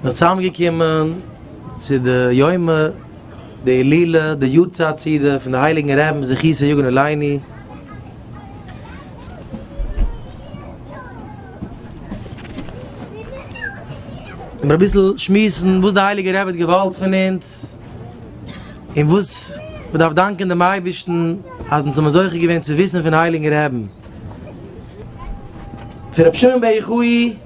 זיך צוזאמגעקומען צו די יומא דהילולא די יארצייט סעודה פון די הייליגן רעבן זכותו יגן עלינו, און אביסל שמועסן וואס די הייליגע רבי האט געוואלט פון אונז, און וואס מען דארף דאנקען דעם אייבערשטן אז אונז האבן זוכה געווען צו וויסן פון הייליגן רעבן, פון רבי שמעון בער יחי.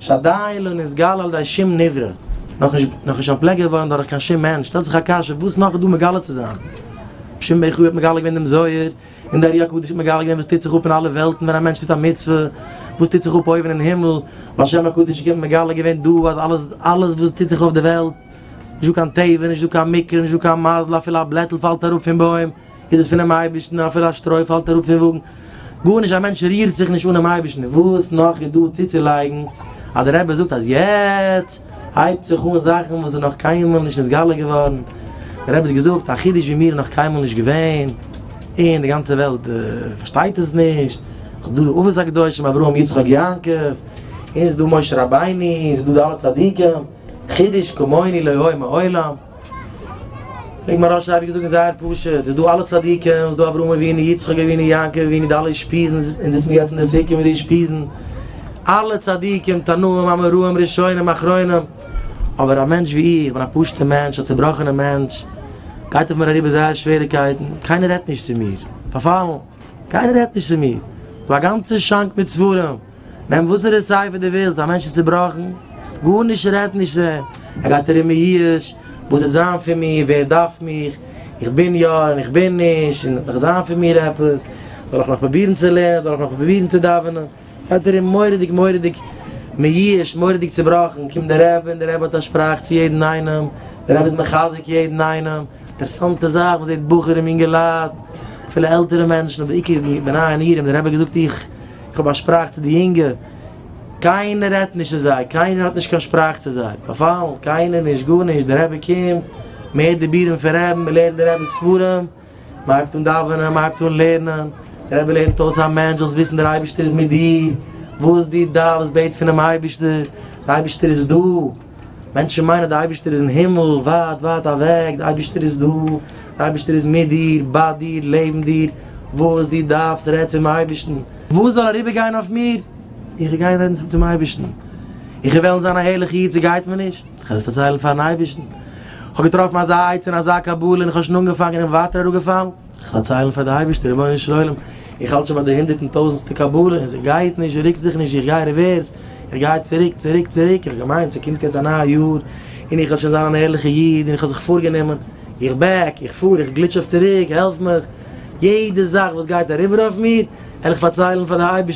שדי לא נתגלה על ידי שום נברא, נאך נישט אנטפלעקט געווארן דורך קיין שום מענטש, שטעלט זיך א קשיא וואס נאך איז דא מגלה צו זיין? שמעון בן חי האט מגלה געווען דעם זוהר, און דער ארי הקדוש האט מגלה געווען וואס טוט זיך אפ אין אלע וועלטן ווען א מענטש טוט א מצוה, וואס טוט זיך אפ אויבן אין הימל, בעל שם הקדוש האט מגלה געווען דא אז אלעס אלעס וואס טוט זיך אויף די וועלט, נישט דא קיין טבע, נישט דא קיין מקרה, נישט דא קיין מזל, אפילו א בלעטל פאלט אראפ פון בוים, איז עס פונעם אייבערשטן, אפילו א שטרוי פאלט אראפ פון וואגן, גארנישט, א מענטש רירט זיך נישט אנעם אייבערשטן, וואס נאך איז דא צוצולייגן אז דער רבי זאגט אז יעצט הייבט זיך אן זאכן וואס איז נאך קיינמאל נישט נתגלה געווארן, דער רבי האט געזאגט א חידוש ווי מיר איז נאך קיינמאל נישט געווען, און די גאנצע וועלט פארשטייט עס נישט, ס'איז דא די אבות הקדושים אברהם יצחק יעקב, און ס'איז דא משה רבינו, און ס'איז דא די אלע צדיקים, חידוש כמוני לא היה מעולם. וועגן מוהרא ש האב איך געזאגט איז זייער פשוט, איז דא אלע צדיקים, איז דא אברהם אבינו, יצחק אבינו, יעקב אבינו, די אלע אושפיזין, אונז זיצן יעצט אין די סוכה מיט די אושפיזין, אלע צדיקים, תנאים, אמוראים, ראשונים, אחרונים, אבער א מענטש ווי איך, כ'בין א פשוט'ע מענטש, א צובראכענע מענטש, גייט אויף מיר אריבער זייער שוועריקייטן, קיינער רעדט נישט צו מיר, פארפאלן, קיינער רעדט נישט צו מיר, כ'האב א גאנצע שאנק מיט ספרים. נעם וואסערע ספר דו ווילסט, א מענטש איז צובראכן, גארנישט רעדט נישט זי, ער גייט ארום מיואש, וואס וועט זיין פון מיר, ווער דארף מיך, איך בין יא און איך בין נישט, און וועט נאך זיין פון מיר עפעס, זאל איך נאך פרובירן צו לערנען, זאל איך נאך פרובירן צו דאווענען, גייט ארום מורא'דיג מורא'דיג מיואש, מורא'דיג צובראכן, קומט דער רבי און דער רבי האט א שפראך צו יעדן איינעם, דער רבי איז מחזק יעדן איינעם, אינטערעסאנטע זאך, מען זעט בחורים, יונגעלייט, אפילו עלטערע מענטשן, אבער בעיקר די בני ענירים, דער רבי האט געזאגט איך. איך האב א שפראך צו די יונגע, קיינער רעדט נישט צו זיי, קיינער האט נישט קיין שפראך צו זיי, פארפאלן, קיינער נישט, גארנישט, דער רבי קומט, מען הערט די בירעם פון רעבן, מען לערנט די רעבע'ס ספרים, מען הייבט אן דאווענען, מען הייבט אן לערנען, דער רבי לערנט אויס א מענטש, זאלסט וויסן דער אייבערשטער איז מיט דיר, וואס דו דארפסט בעט פונעם אייבערשטער, דער אייבערשטער איז דא. מענטשן מיינען די אייבערשטער איז אין הימל, ווייט ווייט אוועק, די אייבערשטער איז דא, די אייבערשטער איז מיט דיר, ביי דיר, לעבן דיר, וואס דו דארפסט רעד צום אייבערשטן. וואס זאל אריבער גיין אויף מיר? איך וועל גיין רעדן צום אייבערשטן. איך וועל וועלן זיין א ערליכע איד, ס'גייט מיר נישט, איך וועל עס פארציילן פאר'ן אייבערשטן. איך האב געטראפן אזא עצה און אזא קבלה און איך האב שוין אנגעפאנגען און ווייטער אראפגעפאלן. זיך פארציילן פאר די אייבערשטע, רבונו של עולם, איך האלט שוין ביי די הונדערט און טויזענסטע קבלה, און זי גייט נישט, זי רוקט זיך נישט, איך גיי ריווערס, איך גיי צוריק, צוריק, צוריק, איך האב געמיינט ס'קומט יעצט א נייע יאר, און איך וועל שוין זיין אן ערליכע איד, און איך האב זיך פארגענומען, איך בעק, איך פאר, איך גליטש אויף צוריק, העלף מיך, יעדע זאך וואס גייט אריבער אויף מיר, וועל איך פארציילן פאר די אייבערשטע.